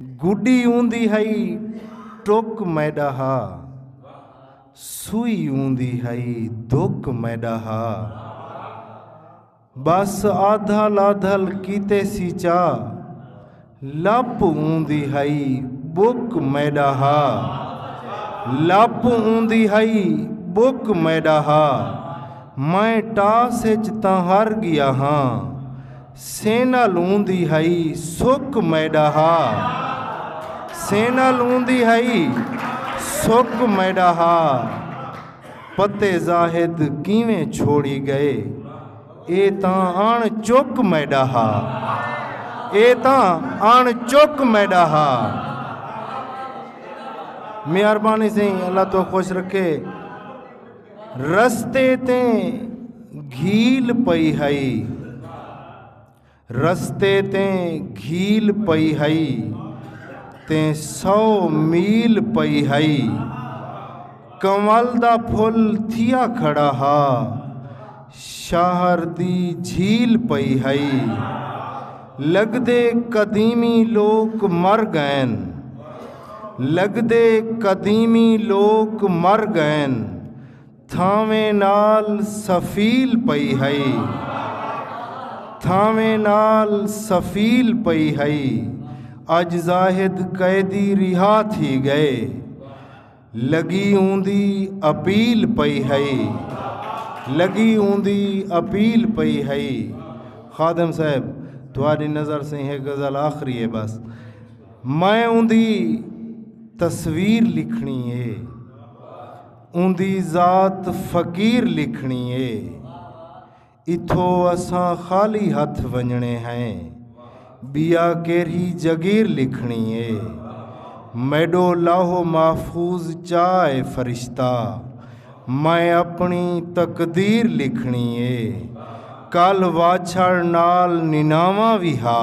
گڈی اوندی ہئی ٹک میڈا ہا سوئی اوندی ہئی دک میڈا ہا بس آدھل آدھل کیتے سی چا لپ اوندی ہئی بک میڈا ہا لپ اوندی ہئی بک میڈا ہا میں ٹاس اچ تاں ہر گیا ہاں سینہ لوندی ہئی سک میڈا ہا سینہ لوندی ہئی سک میڈا ہا پتے زاہد کیویں چھوڑی گئے اے تاں اݨ چک میڈا ہا اے تاں اݨ چک میڈا ہا مہربانی سیں اللہ تو خوش رکھے رستے تے گھیل پئی ہئی رستے تے گھیل پئی ہئی تے سو میل پئی ہئی کنول دا پھل تھیا کھڑا ہا شہر دی جھیل پئی ہئی۔ لگدے قدیمی لوک مر گئن۔ لگدے قدیمی لوک مر گئن۔ تھانویں نال سفیل پئی ہئی۔ تھانویں نال سفیل پئی ہئی۔ اج زاہد قیدی رہا تھی گئے۔ لگی اوندی اپیل پئی ہئی لگی اوندی اپیل پئی ہئی خادم صاحب تھوڑی نظر سے ہے غزل آخری ہے بس میں اوندی تصویر لکھنی ہے اوندی ذات فقیر لکھنی ہے اتھو اساں خالی ہتھ ونجنے ہیں بیا کیرھی جگیر لکھنی اے میڈو لاہو محفوظ چا اے فرشتہ میں اپنی تقدیر لکھنی اے کل واچھڑ نال نناواں وی ہا